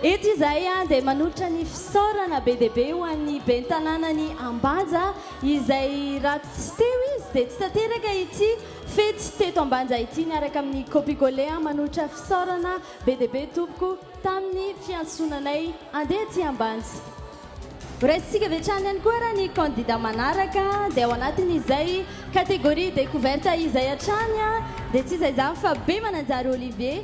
Eto izahay dia manolotra ny fisaorana be dia be ho an'ny Ben'ny Tanànan'i Ambanja izay raha tsy teo izy dia tsy tanteraka ity fety teto Ambanja ity miaraka amin'ny Copicolé manolotra fisaorana be dia be tompoko tamin'ny fiantsoana anay handeha aty Ambanja. Horaisintsika avy hatrany ihany koa ary ny kandida manaraka dia ao anatin'izay catégorie découverte izay hatrany dia tsy iza izany fa Bemananjary Olivier.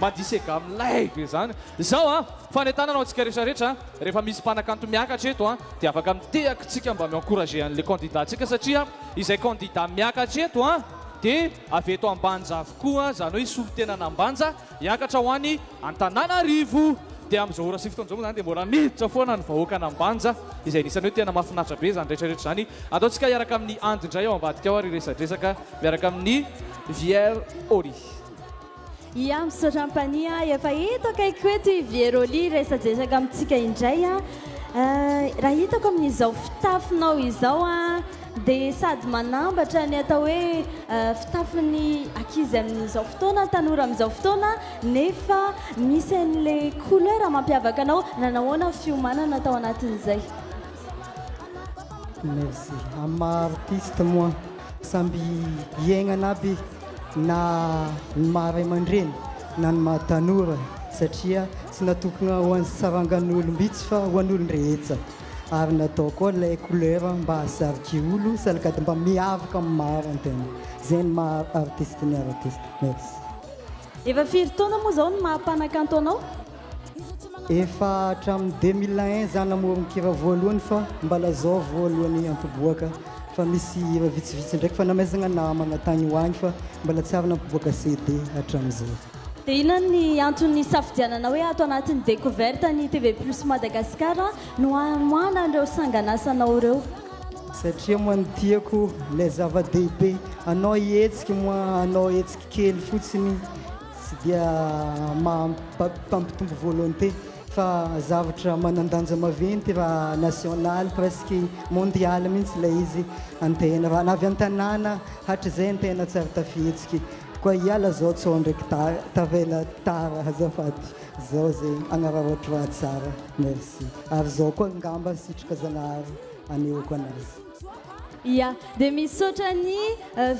Madise gamme live ve zany? Zao an, fanentanana ho antsika rehetra rehetra an, rehefa misy mpanakanto miakatra eto an, de afaka miteaka tsika mba mi encourager anle candidat tsika satria izay candidat miakatra eto an, de avy eto ambanja avokoa, zany hoe solontenana ambanja hiakatra ho any Antananarivo, de amzao ora sy fotoana zao moa zany de mbola miditra foana ny vahoaka any ambanja, izay anisany hoe tena mafinaritra be zany rehetra rehetra zany, atao tsika hiaraka aminy Andy ndray ao ambadika ao ary hiresadresaka miaraka aminy Vier Ory. Ia misaotra ampanihy a, efa eto akaikiko eto i Vieroli hiresadresaka amintsika indray a. Raha hitako amin'izao fitafinao izao a dia sady manambatra ny atao hoe fitafin'ny ankizy amin'izao fotoana, tanora amin'izao fotoana nefa misy an'ilay couleur mampiavaka anao. Nanahoana fiomanana tao anatin'izay? Merci. Amin'ny maha artiste moa. Samby hiaignana aby na ny maha ray aman-dreny na ny maha tanora satria tsy natokona ho an'ny sarangan'olom-bitsy fa ho an'olon-drehetsa ary natao koa ilay couleur mba hahasarika olo salakady mba miavaka amin'ny maro ny tena zay ny maha artiste ny artiste merci. Efa firy taona moa zao ny maha mpanakanto anao? Efa hatramin'ny 2001 za namoron-kira voalohany fa mbala zao vao alohan'ny hampiboaka fa misy hira vitsivitsy ndraiky fa namaizagna namagna tagny ho agny fa mbala tsy ary nampiboaka CD hatramin'izay. Dia inona ny antony nisafidianana hoe ato anatin'ny Découverte ny TV Plus Madagascar no hamoahana an'ireo sanganasanao ireo? Satria moa ny tiako ilay zava-dehibe, anao hihetsika moa hanao hetsika kely fotsiny. Tsy dia mampitombo volonté fa zavatra manan-danja maventy raha nationale presque mondiale mihitsy ilay izy an-tena raha na avy an-tanàna hatrizay an-tena tsy ary tafihetsiky koa hiala zao tsy ho ndraiky tavela tara azafady zao zay hanararaotra tsara merci ary zao koa ngamba sitraka Zanahary anehoako anazy. Ia, dia misaotra ny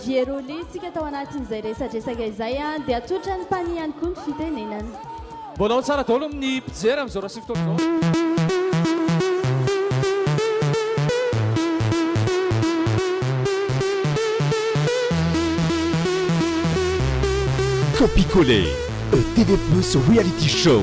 Vieroly tsika tao anatin'izay resadresaka izay an, dia atolotra ny Pani ihany koa ny fitenenana. Mbola ao tsara daholo ny mpijery amin'izao raha sy fotoana izao. Copy-coller, a TV plus reality show.